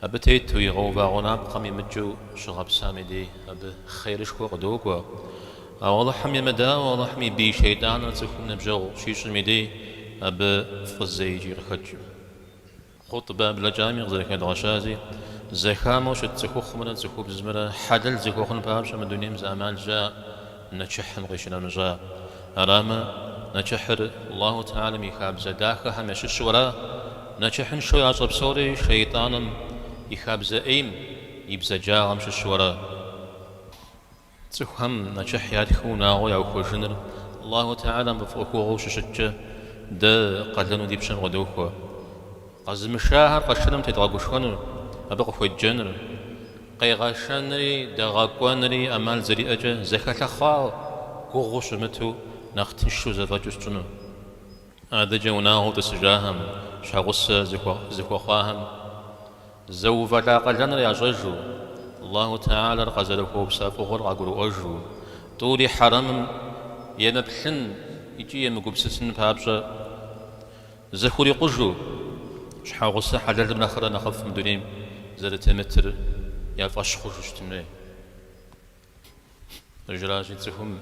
Абы тету игъэува гъунапкъэм имыкӏыу щыгъэпсам и дей абы хъерышхуэ къыдокӏуэ. Ауэ Алыхьым емыдауэ, Алыхьым и бий шейтӏаныр цӏыхум ныбжьэгъу щищӏым и дей абы фӏы зэикӏи къыхэкӏкъым. Хъутбэ блэкӏами къызэрыхэдгъэщази, зэхамэу щыт цӏыхухъумрэ цӏыхубзымрэ хьэлэл зэхуэхъун папщӏэ мы дунейм зы ӏэмал щаӏэ. нэчыхьым къищынэмыщӏа. Арамэ, нэчыхьыр Аллаху Теалэм и хабзэ дахэхэм ящыщу ара. Нэчыхьыншэу ящӏэ псори шейтӏаным и хабзэ ӏейм и бзаджагъэм щыщу ара. Цӏыхухэм нэчыхь ятхыу унагъуэ яухуэжыныр Аллаху Теалэм къыфӏэӏуэхугъуэу щыщыткӏэ, дэ къалэну ди пщэм къыдохуэ. Къэзымышахэр къэшыным тедгъэгушхуэнур, абы къыхуеджэнур, къегъэшэнри дэгъэкӏуэнри ӏэмал зэриӏэкӏэ зэхэлъэхъа, гугъуу щымыту нэхъ тыншу зэфӏэкӏыу щытщӏыну. Адэкӏэ унагъуэу тӏысыжахэм, щхьэгъусэ зэхуэхъуахэм зэувэлӏа къалэныр ящӏэжу, Аллаху Теалэр къазэрыхуэупса фӏыгъуэр къагурыӏуэжу, тӏури хьэрэмым емыплъын икӏи емыгупсысын папщӏэ, зэхурикъужу, щхьэгъусэ хьэлэлым нэхърэ нэхъыфӏ мы дунейм зэрытемытыр я фӏэщ хъужу щытын хуей. Къыжрази, цӏыхум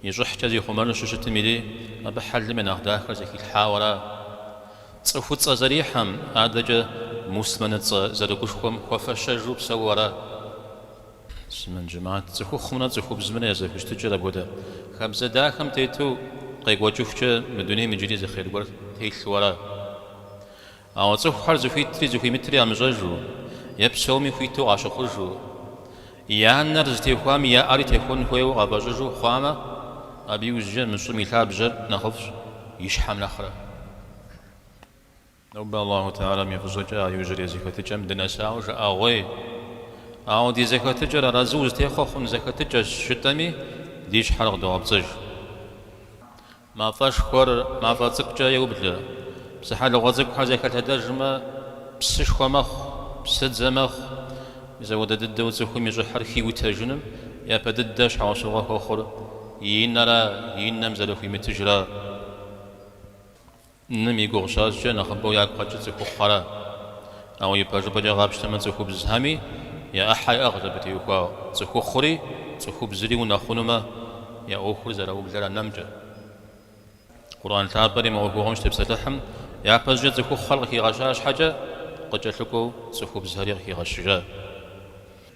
и щӏыхькӏэ зихъумэну щыщытым и дей, абы хьэлым я нэхъ дахэр зыхилъхьауэ ара. Цӏыхуцӏэ зэрихьэм адэкӏэ муслъымэныцӏэ зэрыгушхуэм хуэфэщэжу псэууэ ара. сымэн жэмат, цӏыхухъумрэ цӏыхубзымрэ я зэхущытыкӏэр апхуэдэ хабзэ дахэм тету къекӏуэкӏыхукӏэ мы дунейм иджыри зы хъер гуэр телъу ара. Ауэ цӏыхухэр зыхуитри зыхуимытри ямыщӏэжу е псоми хуиту къащыхъужу, я нэр зытехуам я ӏэри техуэн хуейуэ къафӏэщӏыжу хъуамэ, абы иужькӏэ мы щӏым и лъабжьэр нэхъыфӏщ и щхьэм нэхърэ. Нобэ Аллаху Теалэм и фӏыщӏэкӏэ а иужьрей зэхэтыкӏэм дынэсауэ жыӏэгъуей. Ауэ ди зэхэтыкӏэр арэзы узытехъуэ хъун зэхэтыкӏэщ жытӏэми, ди щхьэр къыдогъэпцӏыж. Мафӏэшхуэр мафӏэ цӏыкӏукӏэ еублэ. Псыхьэлыгъуэ цӏыкӏухэр зэхэлъэдэжмэ, псышхуэ мэхъу, псыдзэ мэхъу. Мис апхуэдэ дыдэу цӏыхум и щӏыхьыр хиутэжыным япэ дыдэ щхьэусыгъуэ хуэхъур и нэра, и нэм зэрыхуимытыжыра. Нэм и гугъу щащӏкӏэ нэхъыбэу ягу къэкӏыр цӏыхухъухэра. Ауэ ипэжыпӏэкӏэ къапщтэмэ, цӏыхубзхэми я ӏыхьэ иӏыгъщ абы теухуауэ. Цӏыхухъури цӏыхубзри унэхъунумэ, я ӏуэхур зэраублэр я нэмкӏэ. Къурӏэн лъапӏэри мы ӏуэхугъуэм щытепсэлъыхьым япэщӏыкӏэ цӏыхухъухэр къыхигъэща щхьэкӏэ, къыкӏэлъыкӏуэу цӏыхубзхэри къыхигъэщыжа.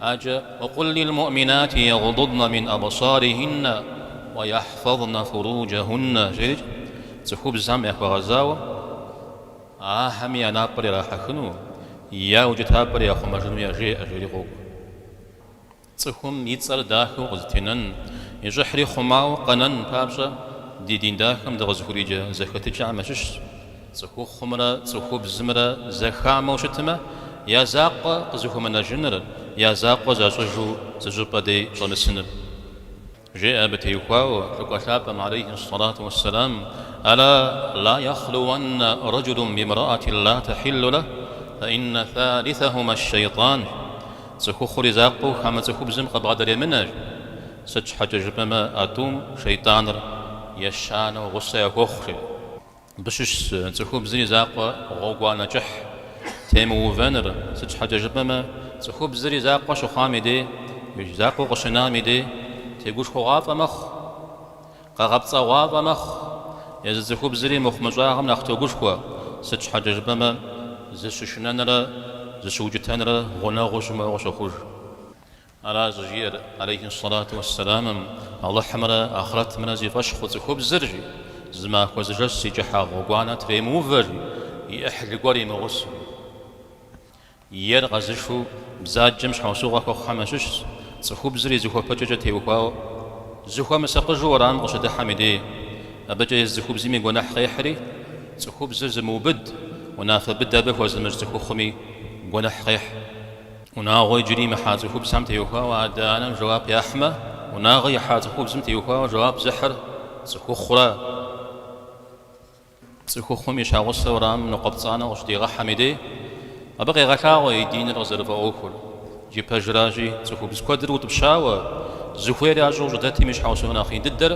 Аджэ, Уакъул лил муъминати ягъдудна мин абсарихинна ва яхӏфазна фуруджахьунна жери цӏыхубзхэм яхуэгъэзауэ ахэми я напӏэр ирахьэхыну, я укӏытапӏэр яхъумэжыну яжеӏэ жери къокӏуэ. Цӏыхум и цӏэр дахэу къызэтенэн, и щӏыхьри хъумауэ къэнэн папщӏэ ди дин дахэм дыкъызыхуриджэ зэхэтыкӏэхэм ящыщщ. Цӏыхухъумрэ цӏыхубзымрэ зэхамэу щытмэ, я закъуэ къызыхуэмынэжыныр, я закъуэ защӏыжу зы щӏыпӏэ дей щӏэмысыныр. Жеӏэ абы теухуауэ Лӏыкӏуэ Лъапӏэм алейхьи ссалату уэссэлам, Ала ла яхлуанна рэджулун бимрэӏатин ла тэхьиллу лэхь, фэ инна фалисэхьума ш-шэйтӏан. Цӏыхухъур и закъуэу хамэ цӏыхубзым къыбгъэдэремынэж. Сыт щхьэкӏэ жыпӏэмэ а тӏум шэйтӏаныр ещанэу гъусэ яхуохъури. Мыбы щыщщ цӏыхубзыр и закъуэ гъуэгуанэ кӏыхь темыувэныр, сыт щхьэкӏэ жыпӏэмэ, цӏыхубзыр и закъуэ щыхъуам и дей, и закъуэу къыщынам и дей, тегушхуэгъуафӏэ мэхъу, къэгъэпцӏэгъуафӏэ мэхъу. Езы цӏыхубзри мыхъумыщӏагъым нэхъ тогушхуэ, сыт щхьэкӏэ жыпӏэмэ, зыщышынэнрэ зыщыукӏытэнрэ гъунэгъуу щымыӏэу къыщохъуж. Ара щӏыжиӏэр алейхи ссалату уэссэламэм, Алыхьымрэ ахърэтымрэ зи фӏэщ хъу цӏыхубзыр, жи, зы махуэ зы жэщ зи кӏыхьагъ гъуэгуанэ тремыувэ, жи, и ӏыхьлы гуэр имыгъусэу. Ер къэзышэу бзаджэм щхьэусыгъуэ хуэхъухэм ящыщщ, цӏыхубзыр и зыхуэпэкӏэкӏэ теухуауэ, зыхуэмысакъыжу уэрам къыщыдыхьэм и дей. Абыкӏэ езы цӏыхубзми гуэныхь къехьри, цӏыхубзыр зымыубыд, унафэ быдэ абы хуэзымыщӏ цӏыхухъуми гуэныхь къехь. Унагъуэ иджыри имыхьа цӏыхубзхэм теухуауэ адэ-анэм жэуап яхьмэ, унагъуэ ихьа цӏыхубзым теухуауэ жэуап зыхьыр цӏыхухъура. Цӏыхухъум и щхьэгъусэ уэрамым ныкъуэпцӏанэу къыщыдигъэхьэм и дей, абы къегъэлъагъуэ и диныр къызэрыфӏэӏуэхур. Икӏи пэжращи, цӏыхубз куэдыр утӏыпщауэ, зыхуейр ящӏэу щӏыдэтым и щхьэусыгъуэ нэхъ ин дыдэр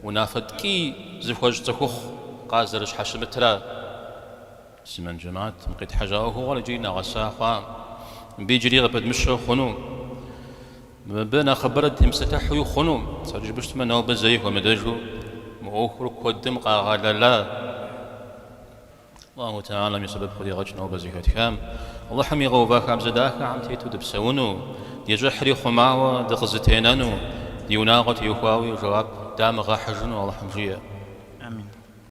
унафэ ткӏий зыхуэщӏ цӏыхухъу къазэрыщхьэщымытра. Муслъымэн джэмэӏэт, мы къетхьэжьа ӏуэхугъуэр иджыри нэгъэса хъуакъым, мыбы иджыри къыпыдмыщэу хъуну, мыбы нэхъыбэрэ темыпсэлъыхьуи хъуну, сыра жыпӏэу щытмэ, нобэ зэи хуэмыдэжу мы ӏуэхур куэдым къагъэлэла, Аллаху Теалэм и сэбэп къыдигъэкӏ нобэ зэхэтхам, Алыхьым игъэува хабзэ дахэхэм тету дыпсэуну, ди щӏыхьри хъумауэ дыкъызэтенэну, ди унагъуэ теухуауи жэуап дамыгъэхьыжыну Алыхьым жиӏэ. Амин.